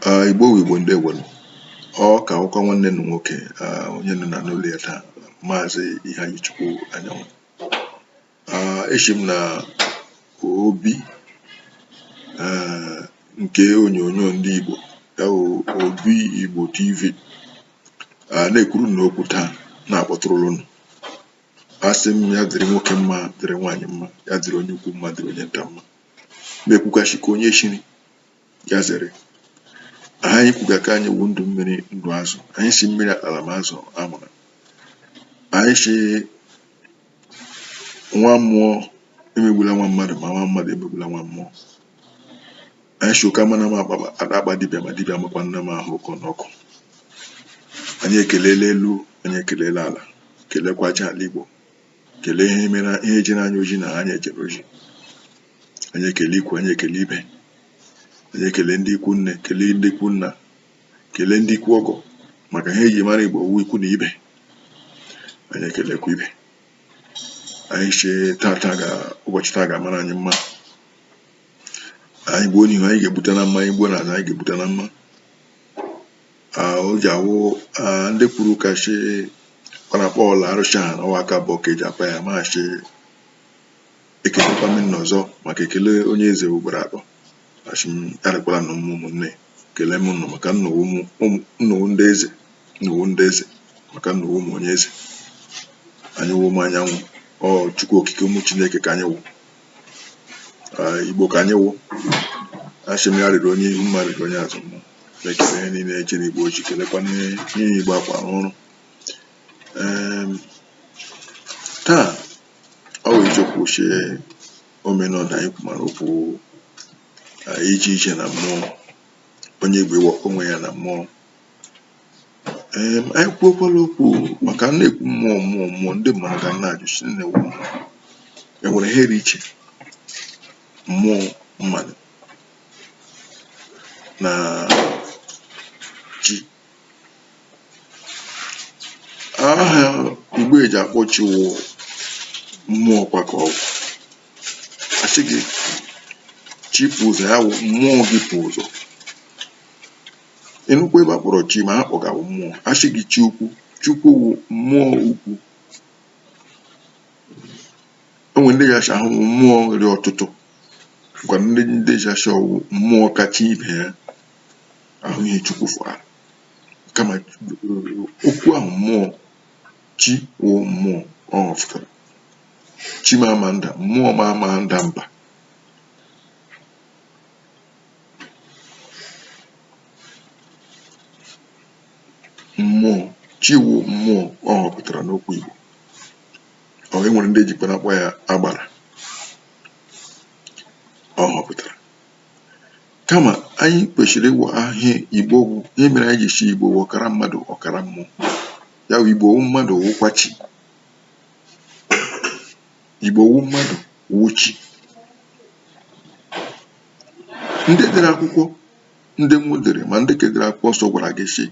Ah, igbo wu igbo ndewonu ọ ka wụkwa nwanne nụ nwoke ah, onye nọ na n'ụlọ ya taa maazị Ihanyichukwu Anyanwụ Ah, eshi m na obi ah, nke onyonyo ndị igbo ya wụ obi igbo tv Ah, na-ekwuru nụ okwu taa na-akpọtụrụ unu asị m ya dịrị nwoke mma dịrị nwaanyị mma ya dịrị onye ukwu mma dịrị onye nta mma m ekwuga shị ka onye shiri ya zere aha anyị kwuga ka anyị wu ndụ mmiri ndụ azụ anyị sị mmiri atala ma azụ anwụla anyị sị nwa mmụọ emegbula nwa mmadụ ma nwa mmadụ emegbula nwa mmụọ anyị sị ụka amana m akpa dibịa ma dibịa amakwana m ahụ ụkọ n'ọkụ anyị ekelela elu anyị ekelela ala kelekwa aja ala igbo kelee ihe jere anyị ozi na anyị ejere ozi anyị ekele ikwu anyị ekele ibe anyị ekele ndị ikwu nne kelee ndị ikwu nna kelee ndị ikwu ọgọ maka ihe eji mara igbo ọ wụ ikwu na ibe anyị ekelekwa ibe anyị shị tata ga ụbọchị taa ga-amara anyị mma anyị gbuo n'ihu anyị ga-egbuta na mma anyị gbuo n'azụ anyị ga-egbuta na mma o ji awụ ndị kwuru ka shi kpanakpa ọla arụsị ha n'ụwa aka abụọ ka eji akpa ya m asị ekelekwa m unu ọzọ maka ekele onye eze wụ ugboro atọ asị m ya rịkwara nụ mma ụmụnne ekelee m nụ maka unu wụ ndị eze unu wụ ndị eze maka unu wụ ụmụ onye eze anyị wụ ụmụ anyanwụ ọ chukwu okike ụmụ chineke ka anyị wụ Ah, igbo ka anyị wụ asị m ya rịrị onye ihu mma rịrị onye azụ mma ekele ihe niile ejere igbo ozi kelekwa n'ihe igbo akwa arụ ọrụ Em, taa ọ wụ isiokwu ochie omenala anyị kwumara okwu ah, ije ije na mmụọ onye igbo ịwakọ onwe ya na mmụọ um anyị kwuokwala okwu maka a na-ekwu mmụọ mmụọ mmụọ ndị mmadụ ga na-ajụ sị gịnị wụ mmụọ e nwere ihe dị iche mmụọ mmadụ na chi aha igbo eji akpọ chi wụ mmụọ kwa ka ọ wụ a sị gị chi pụ ụzọ ya wụ mmụọ gị pụ ụzọ e nwekwa ebe a kpọrọ chi ma ha kpọga wụ mmụọ a sị gị chi ukwu chukwu wụ mmụọ ukwu enwe ndị ga-asị ọ wụ mmụọ rị ọtụtụ kwa ndị ga-asị ọ wụ mmụọ kacha ibe ya ya wụ ihe chukwu fụrụ kama okwu ahụ mmụọ chi wụ mmụọ ọ fụtara chi m ama nda mmụọ m ama nda mba mmụọ chi wụ mmụọ ọ họpụtara n'ọkpụ Igbo or e nwere ndị ejikwa na-akpọ ya agbara ọ họpụtara kama anyị kwesịrị ịma ihe Igbo bụ ihe mere anyị ji sị Igbo wụ ọkara mmadụ ọkara mmụọ ya wụ Igbo wụ mmadụ wụkwa chi Igbo wụ mmadụ wụ chi ndị dere akwụkwọ ndị mbụ dere ma ndị ke dere akwụkwọ nsọ gwara gị sị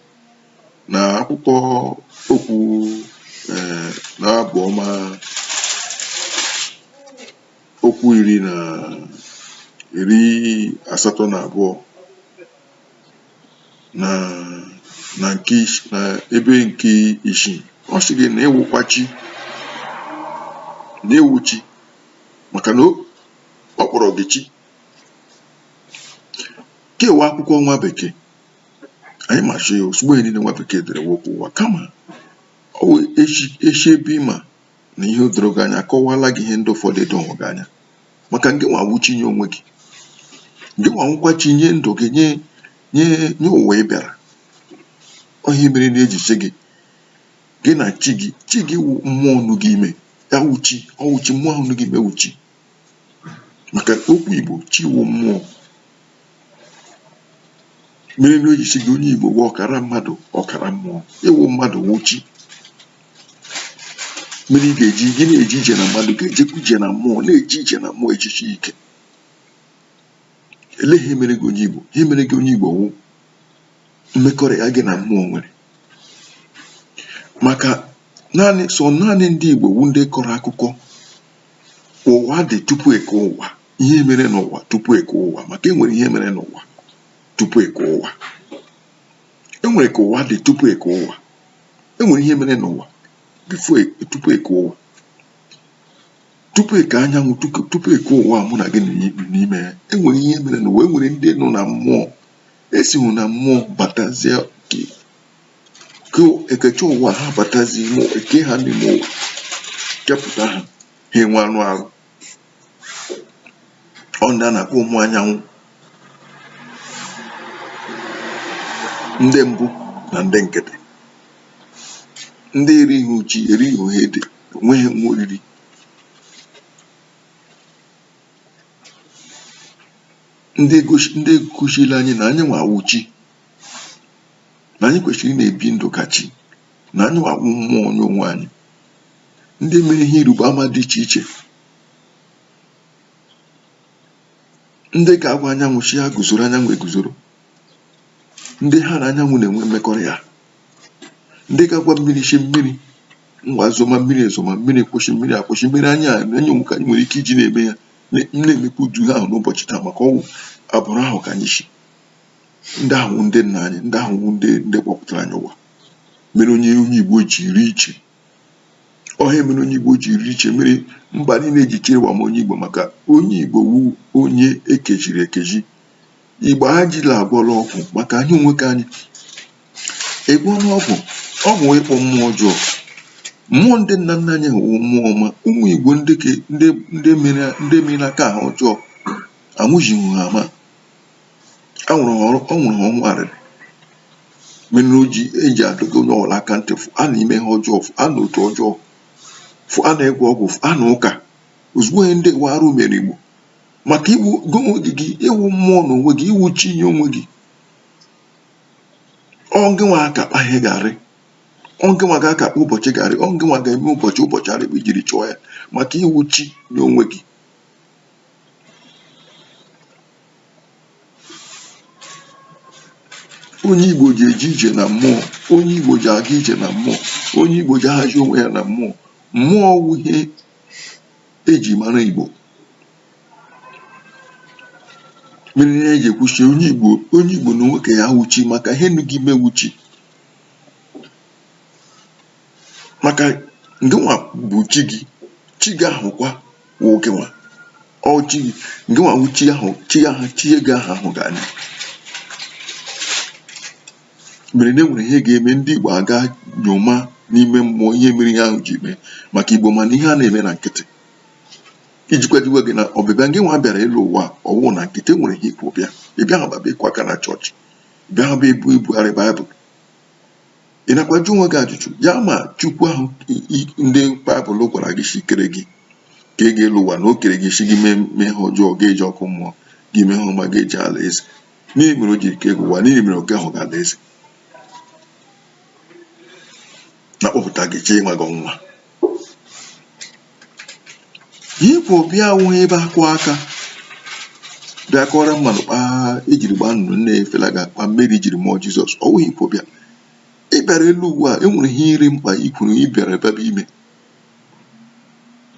na akwụkwọ okwu eh, na abụ ọma okwu iri na iri asatọ na abụọ na na nke is- na ebe nke isii ọ sị gị na ị wụkwa chi na ị wụ chi maka na o- ọ kpọrọ gị chi kewa akwụkwọ nwa bekee anyị machi ya ozugbo ihe niile nwa bekee dere wụ okwu ụwa kama ọ wụ echi echi ebe ị ma na ihe o doro gị anya akọwala gị ihe ndị ụfọdụ edowe gị anya maka na gị nwa wụ chi nye onwe gị na gị nwa wụkwa chi nye ndụ gị nye nye nye ụwa ị bịara ọ ihe mere na eji sị gị gị na chi gị chi gị wụ mmụọ nọ gị ime ya wụ chi ọ wụ chi mmụọ ahụ nọ gị ime wụ chi maka ọkpụ Igbo chi wụ mmụọ mere na e ji sị gị onye Igbo wụ ọkara mmadụ ọkara mmụọ ị wụ mmadụ wụ chi mere ị ga-eji gị na-eje ije na mmadụ ga-ejekwa ije na mmụọ na-eje ije na mmụọ echichi ike ele ihe mere gị onye Igbo ihe mere gị onye Igbo wụ mmekọrịta gị na mmụọ nwere maka naanị sọ naanị ndị Igbo wụ ndị kọrọ akụkọ ụwa dị tupu eke ụwa ihe mere n'ụwa tupu eke ụwa maka enwere ihe mere n'ụwa tupu eke ụwa enwere ka ụwa dị tupu eke ụwa enwere ihe mere n'ụwa before tupu eke ụwa tupu eke anyanwụ tupu eke ụwa mụ na gị n'ime ya enwere ihe mere n'ụwa enwere ndị nọ na mmụọ esiwu na mmụọ batazie ka ekechi ụwa ha batazi ime ụwa eke ha n'ime ụwa kepụta ha ha enwe anụ arụ ọ ndị a na-akpọ ụmụ anyanwụ ndị mbụ na ndị egede ndị erighị ji erighị ede enweghị ihe oriri ndị gosi- ndị gosiri anyị na anyị nwa wụ chi na anyị kwesịrị ị na-ebi ndụ ka chi na anyị nwa wụ mmụọ nye onwe anyị ndị mere ihe ịrịba ama dị iche iche ndị ga-agwa anyanwụ sị ya guzoro anyanwụ eguzoro ndị ha na anyanwụ na-enwe mmekọrịta ndị ga-agwa mmiri sị mmiri ngwa zoma mmiri ezoma mmiri kwụsị mmiri akwụsị mere anyị onwe ke anyị nwere ike iji na-eme ya na-emekwa ụdị ahụ n'ụbọchị taa maka ọ wụ agbụrụ ahụ ka anyị si ndị ahụ ndị nna anyị ndị ahụ ndị ndị kpọpụtara anyị ụwa mere onye onye Igbo ji rị iche ọ ha mere onye Igbo ji rị iche mere mba niile ji chere ma onye Igbo maka onye Igbo wụ onye ekejiri ekeji Igbo ajila agwọla ọgwụ maka anyị onwe ke anyị agwọla ọgwụ ọgwụ ịkpọ mmụọ ọjọọ mmụọ ndị nna nna anyị ahụ wụ mmụọ ọma ụmụ Igbo ndị mere aka ha ọjọọ anwụjighị ha ama a nwụrụ ha ọnwụ arịrị mere o ji eji adọga onye ọwụla aka ntị fụa n'ime ihe ọjọọ fụa na otu ọjọọ fụa n'ịgwọ ọgwụ fụa na ụka ozugbo ihe ndị wa arụ mere Igbo maka ị wụ gị onwe gị gị ị wụ mmụọ na onwe gị ị wụ chi nye onwe gị ọ gị nwa aka kpa ihe ga-arị ọ gị nwa ga-aka kpa ụbọchị ga-arị ọ gị nwa ga-eme ụbọchị ụbọchị arị kpa i jiri chọọ ya maka ị wụ chi nye onwe gị onye Igbo ji eje ije na mmụọ onye Igbo ji aga ije na mmụọ onye Igbo ji ahazi onwe ya na mmụọ mmụọ wụ ihe eji mara Igbo mere ihe eji ekwu sị onye Igbo onye Igbo n'onwe ke ya wụ chi maka ihe nọ gị ime wụ chi maka ngịnwa bụ chi gị chi gị ahụkwa wụ gị nwa ọ chi gị ngị nwa wụ chi ahụ chi ahụ chi gị ahụ ahụ ga anya mere na enwere ihe ga-eme ndị Igbo a gaa nyoma n'ime mmụọ ihe mere ihe ahụ ji mee maka Igbo mana ihe a na-eme na nkịtị iji kwadowe gị na ọbịbịa gị nwa bịara elu ụwa ọ wụ na nkịtị enwere ihe ị kwọ bịa ị bịaghị bịa ịkụ aka na chọọchị bịaghị bịa ibu ibugharị baịbụl ị nakwa ajụ onwe gị ajụjụ ya ma chukwu ahụ ndị baịbụl gwara gị sị kere gị ka ị gaa elu ụwa na o kere gị sị gị mee mee ihe ọjọọ gị eje ọkụ mmụọ gị mee ihe ọma gị eje ala eze gịnị mere o ji kee gị ụwa gịnị mere o kehụ gị ala eze na-akpọpụta gị jee nwaa gị ọnwụnwa Ihe i kwọ bịa awụghị ebe akụ aka bịa kọọrọ mmadụ kpa ejiri gbaa nnụnụ na-efelaga kpa Meri jiri mụọ Jizọs ọ wụghị ihe i kwọ bịa ị bịara elu ụwa enwere ihe rị mkpa i kwuru ị bịara ebe bụ ime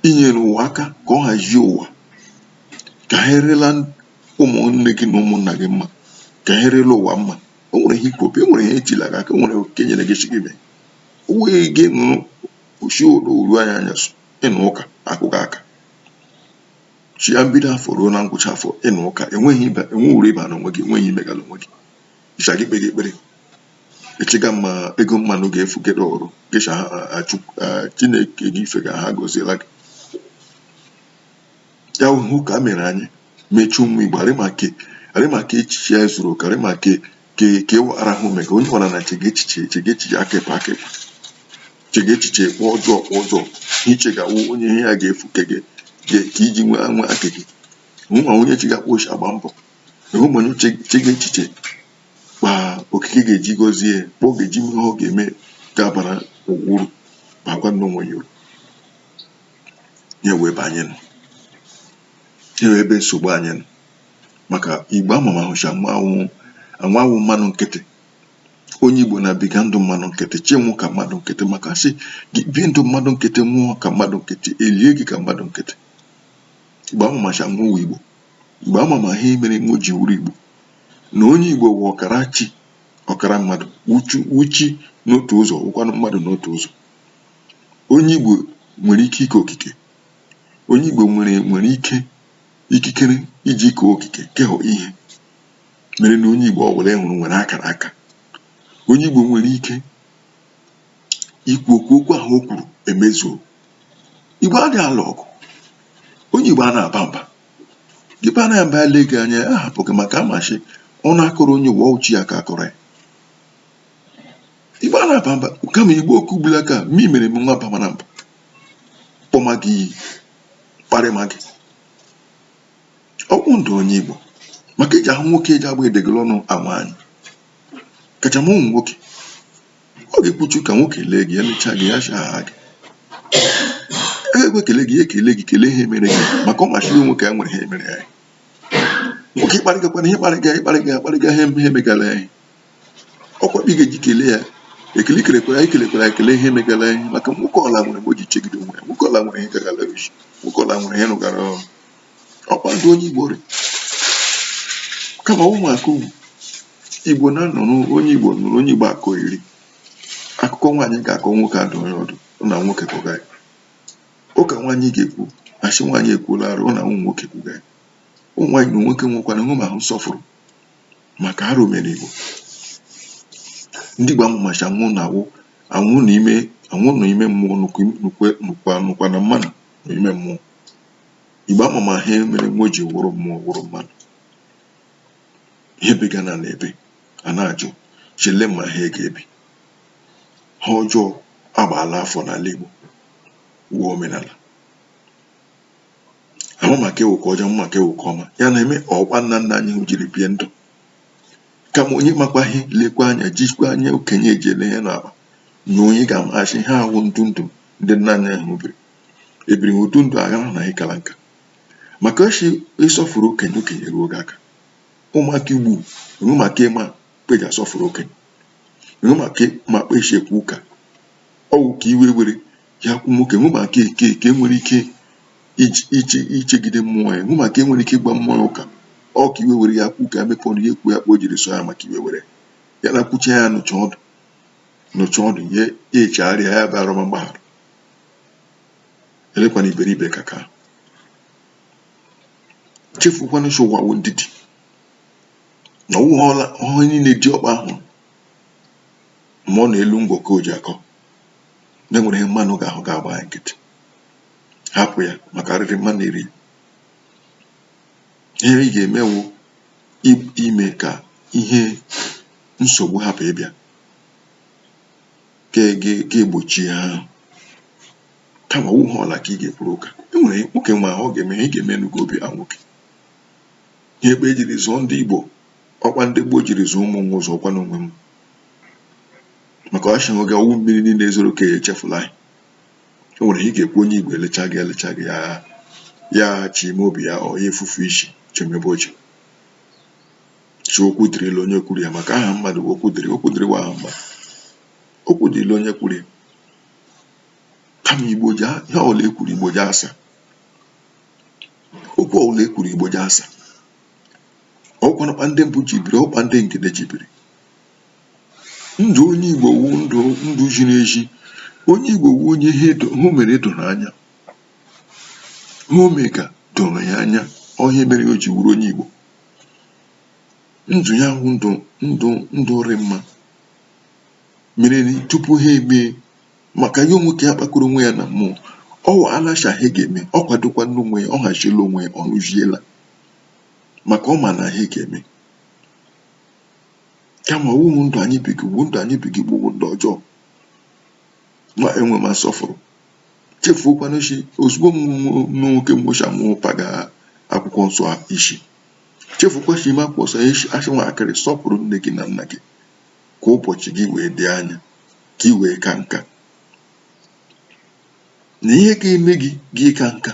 inyere ụwa aka ka ọ hazie ụwa ka ihe rịla ụmụnne gị na ụmụnna gị mma ka ihe rịla ụwa mma o nwere ihe i kwọ bịa o nwere ihe ejila gị aka o nwere oke nyere gị shị gị mee o wee gị nọrọ shi ụlọ oru anya anyasị ị nọ ụka akụga aka shi na mbido afọ ruo na ngwụcha afọ ị nọ ụka enweghị ibe enwe uru ịba n'onwe gị enweghị ihe imegala onwe gị ịcha gị kpere ekpere echega ma ego mmadụ ga-efu gị ọrụ gị shị chineke gị ị fega agọziela gị ya wụ ka a mere anya mechie ụmụ igbo arị maka echiche ya zuru oke arị maka ka ka ewu arahụ ume ka onye ọbụla na chega echiche chega echiche akịpa akịpa chega echiche kpọ ọjọọ kpọ ọjọọ iche ga-awụ onye ihe ya ga-efu ke gị ka iji nwee anwe aka gị enwe onye chega kpa o shi agba mbọ enwe onye chega echiche kpa okike ga-eji gọzie ya kpa ọ ga-eji ihe ọ ga-eme ga-abara ụwa uru bakwa n'onwe ya uru ya wụ ebe anyị nọ ya wụ ebe nsogbu anyị nọ maka igbo amamahụ shị nwo awụ mmadụ nkịtị onye igbo na-ebiga ndụ mmadụ nkịtị chi nwụ ka mmadụ nkịtị maka sị gị bie ndụ mmadụ nkịtị nwụọ ka mmadụ nkịtị elie gị ka mmadụ nkịtị igbo amama shị nwo wụ igbo igbo amama ihe mere nwo ji wụrụ igbo na onye igbo wụ ọkara chi ọkara mmadụ wụ chi n'otu ụzọ wụkwanụ mmadụ n'otu ụzọ onye igbo nwere ike ike okike onye igbo nwere ike ikikere iji kee okike kehọ ihe mere na onye Igbo ọbụla ị hụrụ nwere akara aka onye Igbo nwere ike ikwu okwu okwu ahụ o kwuru emezuo Igbo adịghị alụ ọgụ onye Igbo a na-aba mba gị ba na mba ele gị anya ahapụ gị maka ama shị ọnụ akọrọ onye ọ wụ chi ya ka akọrọ ya Igbo a na-aba mba kama Igbo okwu gbula aka ma i mere m nwa bamara mba kpọma gị iyi kparịma gị ọ wụ ndụ onye Igbo maka eji ahụ nwoke eji agba edegoro ọnụ ama anyị kacha ma ụmụ nwoke ọ ga-ekpuchi ka nwoke lee gị elechaa gị ya aha gị e ekwe kele gị ya ekele gị kelee ihe mere gị maka ọ machiri nwoke ya nwere ihe mere ya nwoke ịkparịgakwana ihe kparịga ịkparịga akparịga ihe ihe megara ya ọ kpa ị ga-eji kelee ya ekele kelekwara anyị kelekwara anyị kelee ihe megara anyị maka nwoke ọla nwere mgbe o ji chegide onwe ya nwoke ọla nwere ihe gagara isi nwoke ọla nwere ihe rụgara ọrụ ọ kpa ndụ onye igbo rị kama ụmụaka ugwu igbo na-anọ n'onye igbo nụrụ onye igbo akọ iri akụkọ nwaanyị ga-akọ nwoke adụ onye ọdụ ọ na nwoke kọga ya ụka nwaanyị ga-ekwu a sị nwaanyị ekwuola arụ ọ na ụmụ nwoke kwuga ya ụmụ nwaanyị na nwoke nwekwana ịhụ ma ahụ nsọfụrụ maka arụ mere Igbo ndị Igbo amụmacha anwụ na awụ anwụ na ime anwụ na ime mmụọ nụkwa na mmanụ na ime mmụọ Igbo amụma ihe mere nwa ji wụrụ mmụọ wụrụ mmanụ ihe bega na na ebe a na-ajụ chele ma ha ga-ebi ihe ọjọọ agbaala afọ n'ala Igbo wụọ omenala ama maka ewu ka ọjọọ maka ewu ka ọma ya na-eme ọ kpa nna nna anyị jiri bie ndụ kama onye makwa ihe lekwa anya jikwa anya okenye eji ele ihe n'akpa na onye ga-amacha ihe wụ ndụ ndụ ndị nna anyị ahụ biri ebiri ụdụ ndụ aghara na ịkara nka maka ọ sị ị sọfụrụ okenye okenye ruo gị aka ụmụaka igbo nwe maka ịma kpa e ji asọfụrụ okenye nwe maka ma kpa e si ekwu ụka ọ wụ ka iwe were ya kwu nwoke nwe maka eke eke nwere ike ichegide mmụọ ya nwe maka e nwere ike ịgba mmụọ ya ụka ọ ka iwe were ya kwu ka emepe ọnụ ya ekwu ya kpa o jiri so ya maka iwe were ya na kwucha ya nụcha ọdụ nụcha ọdụ ya echegharịa ya bụ arọma mgbaghara elekwana iberibe ka ka chefukwana sị ụwa wụ ndidi na ọwụghọla ọhụrụ niile ji ọkpa ahụ ma ọ na-elu ngwọ ka o ji akọ na e nwere ihe mmanụ ga-ahụ ga-agba ya nkịtị hapụ ya maka arịrị mmanụ eri ihe ị ga-emewu ime ka ihe nsogbu hapụ ịbịa ga-egbochi ihe ahụ kama ọ wụ ihe ọla ka ị ga-ekwuru ụka e nwere nwoke ma ọ ga-eme ihe ị ga-eme n'ugo obi ha nwoke ihe kpa e jiri zụọ ndị Igbo ọ kpa ndị gboo jiri zụọ ụmụ nwa ụzọ ọkwa n'onwe m maka a sị oge ọ wụ mmiri niile zoro ka echefula anyị o nwere ihe ị ga-ekwu onye igbo elecha gị elecha gị ya ya sị ime obi ya ọ ya-efufe isi chịmebe ọchị sị okwu dịrịla onye kwuru ya maka aha mmadụ bụ okwu dịrị okwu dịrịwa aha mmadụ okwu dịrịla onye kwuru ya kama igbo ji a- ihe ọbụla ekwuru igbo ji asa okwu ọbụla ekwuru igbo ji asa ọkwanakwa ndị mbụ ji biri ọ kpa ndị ngede ji biri ndụ̀ onye ìgbò wụ ndụ̀ ndụ̀ zhiri ezhi onye ìgbò wụ onye ihe dò ihe o mèrè dòrò anya ihe o mèga dòrò ya anya ọ ihe mèrè o jì wụrụ onye ìgbò ndụ̀ ya wụ ndụ̀ ndụ̀ ndụ̀ rị mmā mèrè nà tupu ha èmee màkà ya nwoke ya kpakọrọ onwe ya nà m̀mụọ ọ wụ̀ a nashà ihe gà-eme ọ kwàdokwaana onwe ya ọ hàzhiela onwe ya ọ̀ rụzhielā màkà ọ mà nà ihe gà-eme kama ọ wụ ndụ anyị biga ugbu ndụ anyị biga ugbu bụ ndụ ọjọọ ma enwema nsọfụrụ chefukwana shi ozugbo m nwoke mgbocha mụọ paga akwụkwọ nsọ isi chefukwa shi ime akwụkwọ nsọ isi a sị nwatakịrị sọpụrụ nne gị na nna gị ka ụbọchị gị wee dị anya ka ị wee kaa nka na ihe ga-eme gị gị kaa nka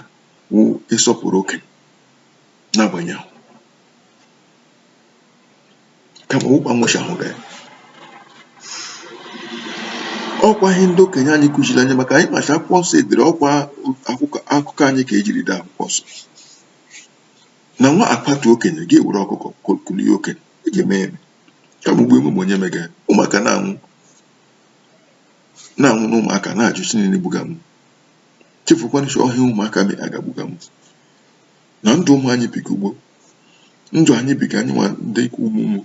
wụ ịsọpụrụ okenye n'agbanyeghị kama ụkwa nwụchahụrụ ya ọ kwa ihe ndị okenye anyị kụziri anyị maka anyị macha akwụkwọ nsọ e dere ọ kwa akụkọ anyị ka e jiri dee akwụkwọ nsọ na nwa kwatuo okenye ga-ewere ọkụkọ kulie okenye e ji eme eme ka mgbe emume onye mega ụmụaka na-anwụ na-anwụ na ụmụaka na-ajụ sị gịnị gbuga m chefukwana shi ọ ihe ụmụaka mega gbuga m na ndụ ụmụ anyị biga ugbu ndụ anyị biga anyị nwa ndị ikwu ụmụ ụmụ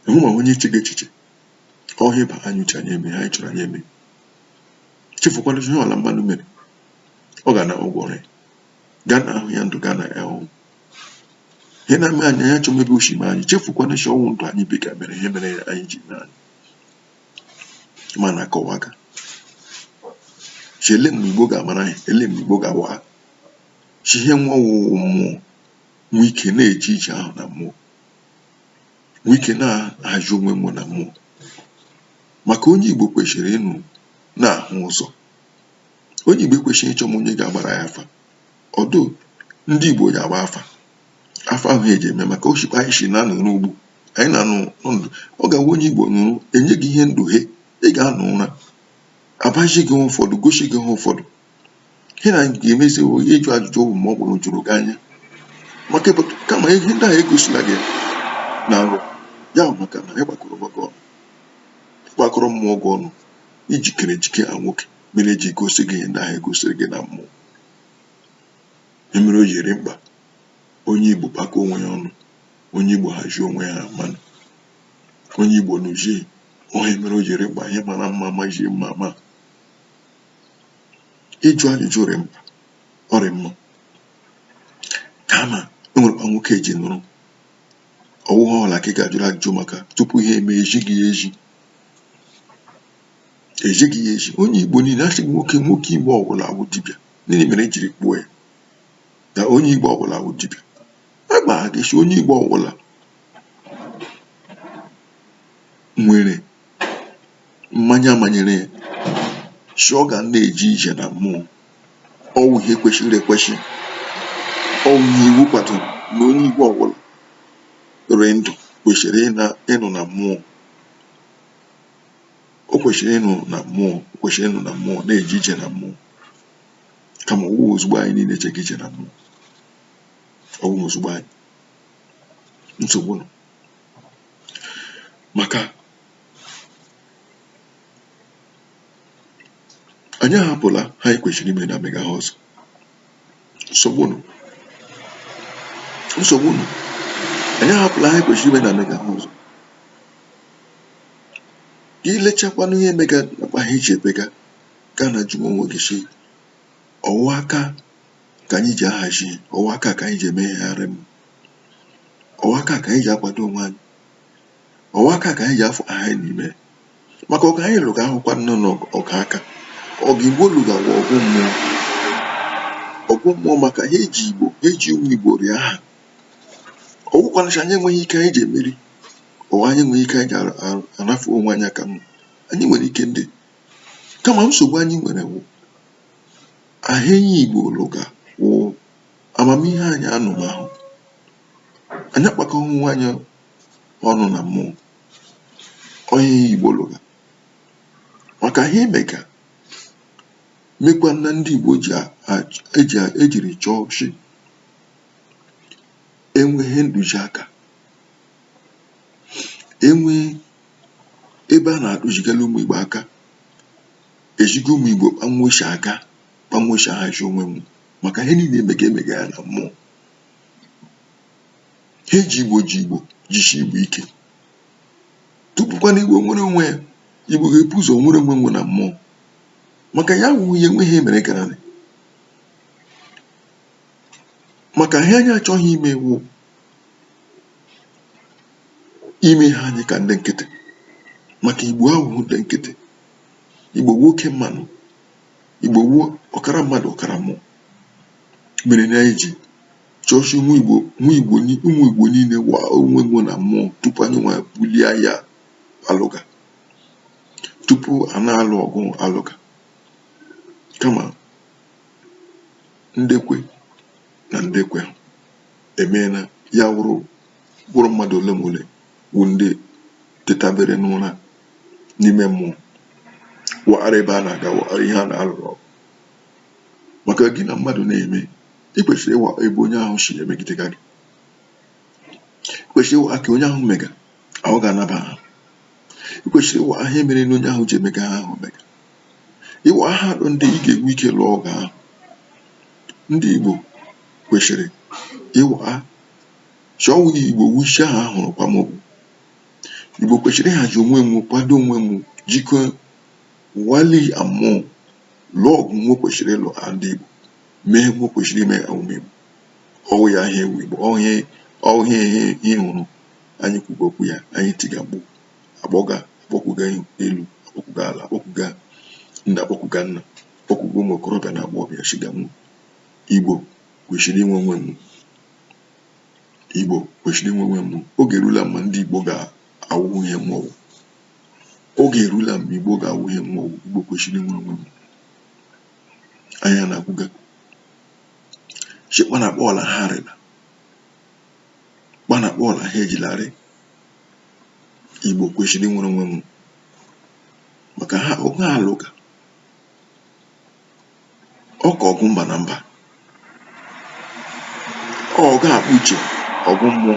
enwema onye chega echiche ọ ihe ba anyị uche anyị eme anyị chọrọ anyị eme chefukwana ihe ọla mmanụ mere ọ ga-ana ụgwọ ọrụ ya ga-ana ahụ ya ndụ ga-ana ya ọ wụ ihe na-eme anyị anyị achọme ebe o shi eme anyị chefukwana shi ọ wụ ndụ anyị biga mere ihe mere anyị ji na anyị ma na-akọwa aka chele mgbe igbo ga-amara anyị ele mgbe igbo ga-awa ha chi ihe nwee ọhụhụ mmụọ nwee ike na-eje ije ahụ na mmụọ nwee ike na-ahazi onwe mmụọ na mmụọ maka onye igbo kwesịrị ịnọ na-ahụ ụzọ onye igbo ekwesịghị ịchọma onye ga-agbara ya afa ọdụ ndị igbo ji agba afa afa ahụ eji eme maka o shi kpa anyị si nọrọ ugbu anyị na-anọ ndụ ọ ga-awụ onye igbo nọrọ e nye gị ihe ndụ he ị ga-anọ ụra abazi gị ụfọdụ gosi gị ha ụfọdụ ihe na ga-emezi onye ịjụ ajụjụ ọ bụ ma ọ bụrụ juru gị anya maka kama ihe ndị ahụ egosila gị na nrọ ya maka na ị gbakọrọ gbakọ gbakọrọ mmụọ gị ọnụ i jikere ejike a nwoke mere eji gosi gị ihe ndị ahụ egosiri gị na mmụọ ihe mere o ji rị mkpa onye Igbo kpakọọ onwe ya ọnụ onye Igbo hazie onwe ya mmanụ onye Igbo nụzie ihe mere o ji rị mkpa ihe mara mma mazie mma ma ịjụ ajụjụ rị mkpa ọ rị mma kama e nwere kpa nwoke eji nụrụ ọwụghị ọla ka ị ga-ajụrụ ajụjụ maka tupu ihe eme ejighị ya eji ejighị ya eji onye Igbo niile a sị na nwoke Igbo ọwụla wụ dibịa gịnị mere e jiri kpuo ya na onye Igbo ọwụla wụ dibịa a gbaga ịsị onye Igbo ọwụla nwere mmanye a manyere ya sị ọ ga na-eje ije na mmụọ ọwụ ihe kwesịrị ekwesị ọwụ ihe iwu kwadoro na onye Igbo ọwụla rị ndụ kwesịrị ịnụ na mmụọ o kwesịrị ịnụ na mmụọ o kwesịrị ịnụ na mmụọ na-eje ije na mmụọ kama ọwụghị ozugbo anyị niile ejega ije na mmụọ ọwụghị ozugbo anyị nsogbu nọ maka anyị ahapụla ihe anyị kwesịrị ime na-emega ihe ọzọ nsogbu nọ nsogbu nọ anyị ahapụla ihe anyị kwesịrị ime na-emega ihe ọzọ i lechakwanụ ihe mega na kpa ihe ji ebega gaa na jụọ onwe gị sị ọwụ aka ka anyị ji ahazi ọwụ aka ka anyị ji emegharị m ọwụ aka ka anyị ji akwado onwe anyị ọwụ aka ka anyị ji afọ aha anyị n'ime maka ọgụ anyị lụga awụkwana ọgụ aka ọgụ igbo lụga wụ ọgụ mmụọ ọgụ mmụọ maka ihe ji igbo ihe ji ụmụ igbo rịa aha ọgwụkwanacha anyị enweghị ike anyị ji emeri ọwụ anyị enweghị ike anyị ji arafu onwe anyị kama anyị nwere ike ndị kama nsogbu anyị nwere wụ ihe Igbo lụga wụ amamihe anyị anụmahụ anyị akpakọghị onwe anyị ọnụ na mmụọ ọwụ ihe Igbo lụga maka ihe mega mekwa na ndị Igbo ji eji ejiri chọọ chi enweghị ntụziaka enweghị ebe a na-atụzigara ụmụ Igbo aka eziga ụmụ Igbo kpa nwe si aga kpa nwe si ahazi onwe nwe maka ihe niile emega emega ya na mmụọ ihe ji Igbo ji Igbo jisi Igbo ike tupukwana Igbo nwere onwe ya Igbo ga-ebu ụzọ nwere onwe nwe na mmụọ maka ya wụ ihe enweghị emere gara maka ihe anyị achọghị ime wụ ime ihe anyị ka ndị nkịtị maka igbo awụhụ ndị nkịtị igbo wụ oke mmanwụ igbo wụ ọkara mmadụ ọkara mmụọ mere na anyị ji chọshị ụmụ igbo niile wa onwe nwụ na mmụọ tupu anyị nwa bulie agha alụga tupu a na-alụ ọgụ alụga kama ndekwe na ndị kwe emee na ya wụrụ mmadụ ole ma ole wụ ndị tetabere n'ụra n'ime mmụọ wara ebe a na-aga wara ihe a na-alụrụ ọgụ maka gị na mmadụ na-eme ị kwesịrị ịwa ebe onye ahụ si emegide gị ị kwesịrị ịwa aka onye ahụ mega ahụ ga-anaba ha ị kwesịrị ịwa ihe mere na onye ahụ ji emega ihe ahụ mega ịwa aha ndị ị ga-enwe ike lụọ ọgụ ahụ ndị Igbo kwesịrị ịwa ha Chukwu Igbo wụ shi ha ahụ lụkwama ọgụ Igbo kwesịrị ịhazi onwe nwụ kwado onwe nwụ jikọọ wali amụọ lụọ ọgụ nwụ kwesịrị ịlụ ha ndị Igbo mee nwụ kwesịrị ime awụ Igbo ọ wụ ya ihe a wụ Igbo ọ wụ ihe ị hụrụ anyị kwuga okwu ya anyị tiga mkpu akpọga akpọkwuga elu akpọkwuga ala akpọkwuga nne akpọkwuga nna akpọkwuga ụmụ okorobịa na agbọghọbịa sịga nwụ. Igbo kwesịrị inwe onwe mụ. Igbo kwesịrị inwe onwe mụ. Oge erula mma ndị Igbo ga-awụ ihe mụ wụ. Oge erula mma Igbo ga-awụ ihe mụ wụ. Igbo kwesịrị inwe onwe mụ. Anyị na-agwụga. Chekwa na akpa ọla ha arịla. Kpa na akpa ọla ha ejilarị. Igbo kwesịrị inwere onwe mụ. Maka ha ọgụ alụga ọ ka ọgụ mba na mba ọgụ akpa uche ọgụ mmụọ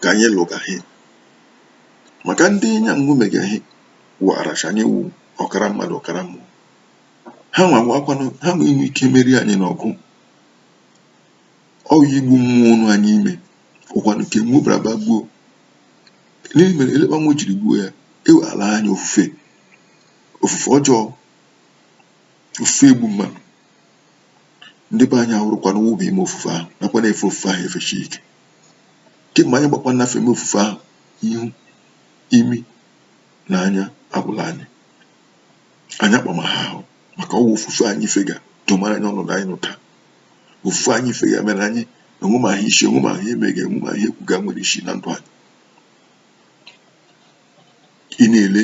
ka anyị lụgahị maka ndị anyị na nwụ megahị waracha anyị wụ ọkara mmadụ ọkara mmụọ ha nwa wakwanụ ha nwe inwe ike meri anyị n'ọgụ ọ wụ igbu mmụọ nọ anyị ime ọ wụkwanụ nke mụ bara ba gbuo n'ihi mere elekpa nwụ jiri gbuo ya ewe ala anyị ofufe ofufe ọjọọ ofufe igbu mmadụ ndị be anyị awụrụkwanụ wụba ime ofufe ahụ nakwa na-efe ofufe ahụ efeshi ike kemgbe anyị gbakwa nnafe eme ofufe ahụ ihu imi na anya agwụla anyị anyị akpama ha ahụ maka ọ wụ ofufe anyị fega domara anyị ọnọdụ anyị nọ taa ofufe anyị fega mere anyị enwe ma ihe isi enwe ma ihe emega enwe ma ihe ekwuga nwere isi na ndụ anyị ị na-ele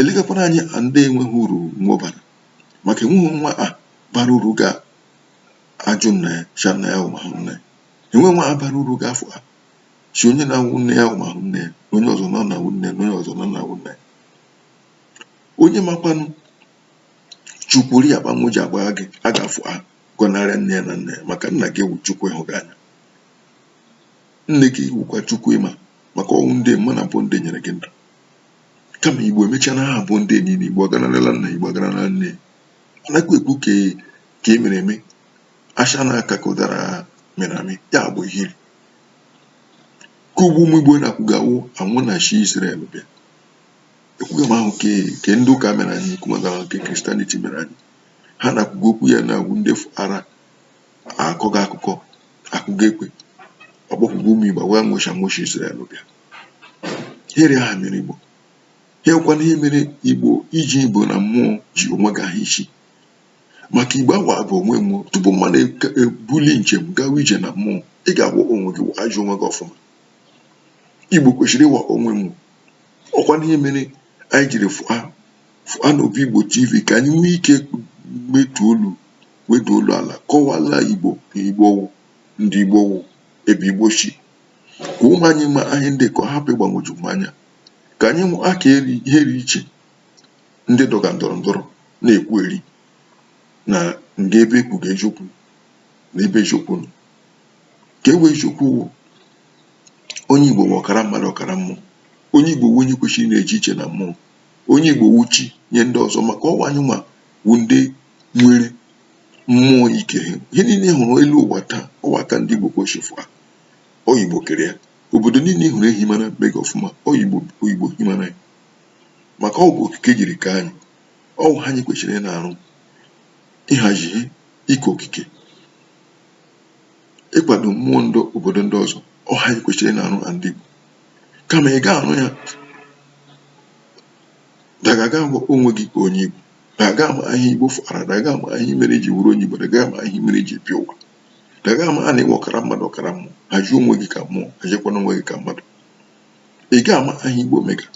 elegakwana anyị a ndị enweghị uru nwụbara maka enweghị nwa a bara uru ga ajụ nna ya sị nna ya awụmahụ nna ya enwe nwa a bara uru ga afụa sị onye na-awụ nne ya ụmahụ nne ya onye ọzọ na na-awụ nne ya onye ọzọ na na-awụ nna ya onye makwanụ chukwuri ya kpanwụ ji agba gị a ga-afụa gọnarịa nne ya na nna ya maka nna gị wụ chukwu ị hụga anya nne gị wụkwa chukwu ị ma maka ọ wụ ndị ị ma na bụ ndị nyere gị ndụ kama igbo emechaa na ha bụ ndị niile igbo agọnarala nna igbo agọnarala nne a nakwa ekwu ka e, ka e mere eme asha na aka ka ụdara mere amị ya bụ ihe ka ugbu ụmụ igbo na-akwụgawo anwụ na shi Israel bịa ekwugamahụ ke ke ndị ụka mere anyị kwumagara nke Christianity mere anyị ha na-akwuga okwu ya na-awụ ndị ara akọga akụkọ akụga ekwe ọkpọkwụgwọ ụmụ igbo wee nwụ shi nwụ shi Izrel bịa here aha mere igbo hekwana ihe mere igbo iji igbo na mmụọ ji onwe gị ahụ isi maka igbo awa bụ onwe mmụọ tupu mmadụ ebuli njem gawa ije na mmụọ ị ga-awa onwe gị wajuo onwe gị ọfụma igbo kwesịrị ịwa onwe mmụọ ọkwana ihe mere anyị jiri fụa Fụa n'Obi Igbo TV ka anyị nwee ike metu olu wedu olu ala kọwala Igbo na Igbo wụ ndị Igbo wụ ebe Igbo si ka ụmụ anyị ma anyị ndị ka ọ hapụ ịgbagwoju m anya ka anyị mụ aka ihe ri iche ndị dọga ndọrọ ndọrọ na-ekwu eri na nga ebe ekwuga eziokwu na ebe eziokwu nọ ke wụ eziokwu wụ onye Igbo wụ ọkara mmadụ ọkara mmụọ onye Igbo wụ onye kwesịrị na-eje ije na mmụọ onye Igbo wụ chi nye ndị ọzọ maka ọ wụ anyị nwa wụ ndị nwere mmụọ ike ihe niile ị hụrụ elu ụwa taa ọ wụ aka ndị Igbo ka o si fụa ọ wụ Igbo kere ya obodo niile ị hụrụ e himara mega ọfụma ọ wụ Igbo himara ya maka ọ bụ okike jiri kee anyị ọ wụ ihe anyị kwesịrị ị na-arụ ịhazi ihe ike okike ịkwado mmụọ ndị obodo ndị ọzọ ọ wụ ihe anyị kwesịrị ị na-arụ na ndị Igbo kama ị ga-arụ ya dagaga ahụ onwe gị ka onye Igbo daga ama ihe Igbo fụara daga ama ihe mere i ji wụrụ onye Igbo daga ama ihe mere i ji bịa ụwa daga ama na ị wụ ọkara mmadụ ọkara mmụọ haji onwe gị ka mmụọ hajikwana onwe gị ka mmadụ ị ga ama ihe Igbo mega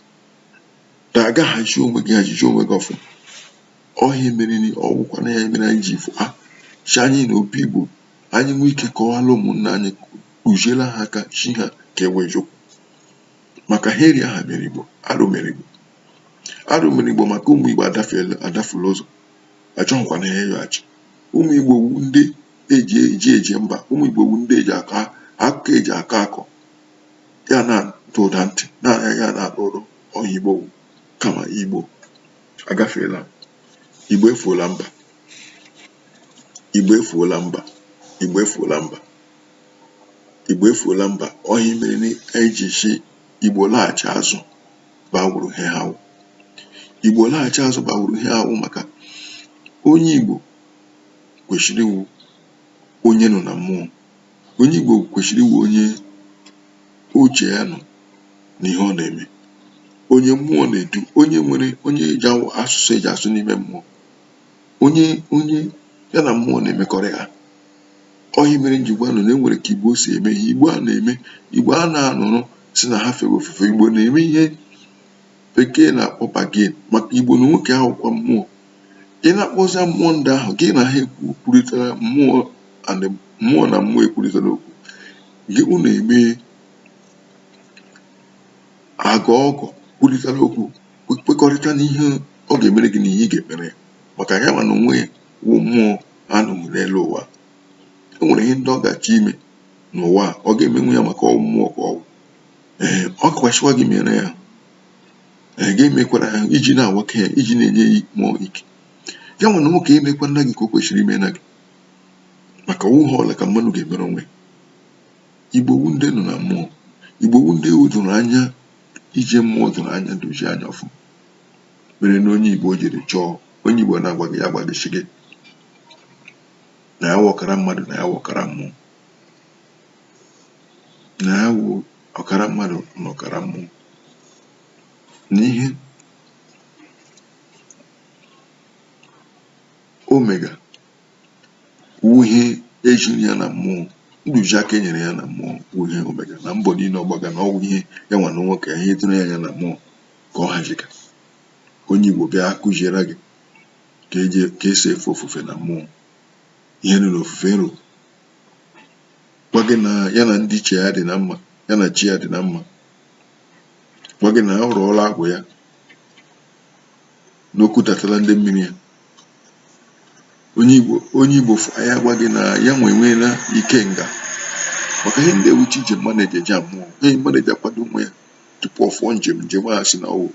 daga haji onwe gị hajiji onwe gị ọfụma ọ wụ ihe mere ọ wụkwana ya mere anyị ji fụa chi anyị n'Obi Igbo anyị nwee ike kọwara ụmụnna anyị kuziere ha aka chi ha ka e wee jụkwu maka ha eri aha mere igbo arụ mere igbo arụ mere igbo maka ụmụ igbo adafeela adafula ụzọ achọghịkwa na ha ịyọghachi ụmụ igbo wu ndị eji eji eje mba ụmụ igbo wu ndị eji akọ akụkọ eji akọ akọ ya na-ada ụda ntị na ya na-ada ụda ọ ihe igbo wu kama igbo agafeela igbo efuola mba Igbo efuola mba Igbo efuola mba Igbo efuola mba ọ ihe mere na anyị ji sị Igbo laghachi azụ bịa wụrụ ihe ha wụ Igbo laghachi azụ bịa wụrụ ihe ha wụ maka onye Igbo kwesịrị ịwụ onye nọ na mmụọ onye Igbo kwesịrị ịwụ onye uche ya nọ n'ihe ọ na-eme onye mmụọ na-edu onye nwere onye eji asụsụ eji asụ n'ime mmụọ onye onye ya na mmụọ na-emekọrịta ọ ihe mere m ji gwa unu na e nwere ka Igbo si eme ihe Igbo a na-eme Igbo a na-anọrọ sị na ha fere ofufe Igbo na-eme ihe bekee na-akpọ bargain maka Igbo na onwe ke ha wụkwa mmụọ ị na-akpọzi mmụọ ndị ahụ gị na ha ekwu kwurịtara mmụọ and mmụọ na mmụọ ekwurịtara okwu gị unu eme agụ ọgụ kwurịtara okwu kwekọrịta n'ihe ọ ga-emere gị na ihe ị ga-emere ya maka ya nwa na onwe ya wụ mmụọ anọ n'elu ụwa e nwere ihe ndị ọ ga-achọ ime n'ụwa ọ ga-emenwu ya maka ọ wụ mmụọ ka ọ wụ ee ọ ga-asịkwa gị mere ya ee gị emekwara ya iji na-awaka ya iji na-enye ya mmụọ ike ya nwa na onwe ke ya emekwana gị ka o kwesịrị ime na gị maka ọ wụ ihe ọla ka mmadụ ga-emere onwe ya igbo wu ndị nọ na mmụọ igbo wu ndị o doro anya ije mmụọ doro anya dozie anya ọfụma mere na onye igbo jiri chọọ onye igbo na-agwa gị ya gwa gị sị gị na ya wụ ọkara mmadụ na ya wụ ọkara mmụọ na ya wụ ọkara mmadụ na ọkara mmụọ n'ihe ọ mega ihe e ziri ya na mmụọ ntụziaka e nyere ya na mmụọ wụ ihe ọ mega na mbọ niile ọ gbaga na ọ wụ ihe ya nwa na onwe ke ya ihe doro ya anya na mmụọ ka ọ haziga onye Igbo bịa kuziere gị ka eji ka esi efe ofufe na mmụọ ihe nọ n'ofufe nru gwa gị na ya na ndị ichie ya dị na mma ya na chi ya dị na mma gwa gị na ọ rụọla agwụ ya na o kutatala ndị mmiri ya onye igbo onye igbo ya agwa gị na ya nwe enweela ike nga maka ihe ndị a wụcha ije mmadụ eji eje na mmụọ ihe mmadụ eji akwado onwe ya tupu ọ fụọ njem njem a sị na ọ wụ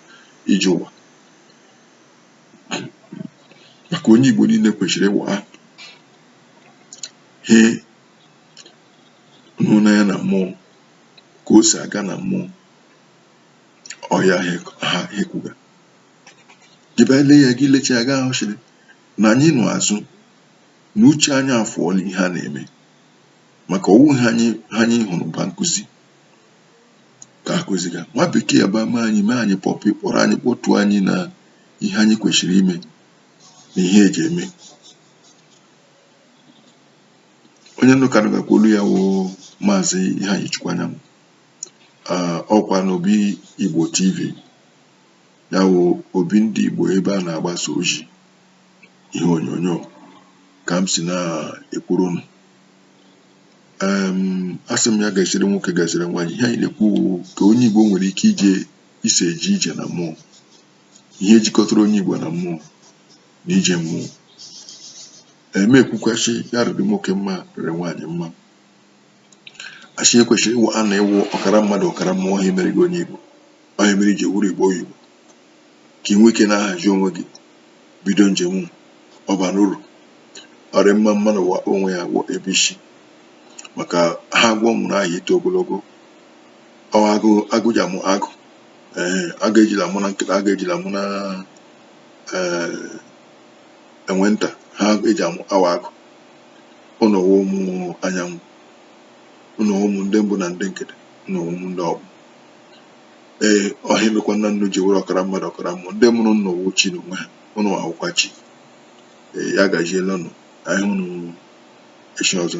ije ụwa maka onye igbo niile kwesịrị ịwa ihe nọ na ya na mmụọ ka o si aga na mmụọ ọ ya ha ekwuga gị bịa lee ya gị lecha ya ga-ahụchiri na anyị nọ azụ na uche anyị afụọla ihe a na-eme maka ọ wụ ihe anyị ihe anyị hụrụ ba nkụzi ka a kụziga nwa bekee bịa mee anyị mee anyị puppy kpọrọ anyị kpọtụ anyị na ihe anyị kwesịrị ime na ihe eji eme onye unu ka nụgakwa olu ya wụ maazị iheanyịchukwu anyanwụ ọ kwa n'obi igbo tv ya wụ obi ndị Igbo ebe a na-agbasa ozi ihe onyonyo ka m si na-ekwuru unu asị m ya gaziere nwoke gaziere nwaanyị ihe anyị na-ekwu ka onye Igbo nwere ike ije isi eje ije na mmụọ ihe jikọtara onye Igbo na mmụọ na ije mmụọ e mee ekwukwa sị ya rịrị nwoke mma rịrị nwaanyị mma a sị e kwesịrị ịwụ a na ịwụ ọkara mmadụ ọkara mmụọ ọ ya mere gị onye Igbo ọ ihe mere i ji wụrụ Igbo oyibo ka ị nwee ike na-ahazi onwe gị bido njem ọ bara uru ọ rị mma mmadụ ịwa onwe ya gwọ ebe isi maka ihe agwọ mụrụ aha ito ogologo ọ agụ agụ ji amụ agụ ee agụ ejila amụ nwa nkịta agụ ejila amụ nwa ee enwe nta ha eji amụ nwa agụ unu wụ ụmụ anyanwụ unu wụ ụmụ ndị mbụ na ndị egede unu wụ ụmụ ndị ọkpụ ee ọ ihe mekwa nna unu ji wụrụ ọkara mmadụ ọkara mmụọ ndị mụrụ unu wụ chi na onwe ha unu awụkwa chi ee ya gajiele unu anyị hụrụ echi ọzọ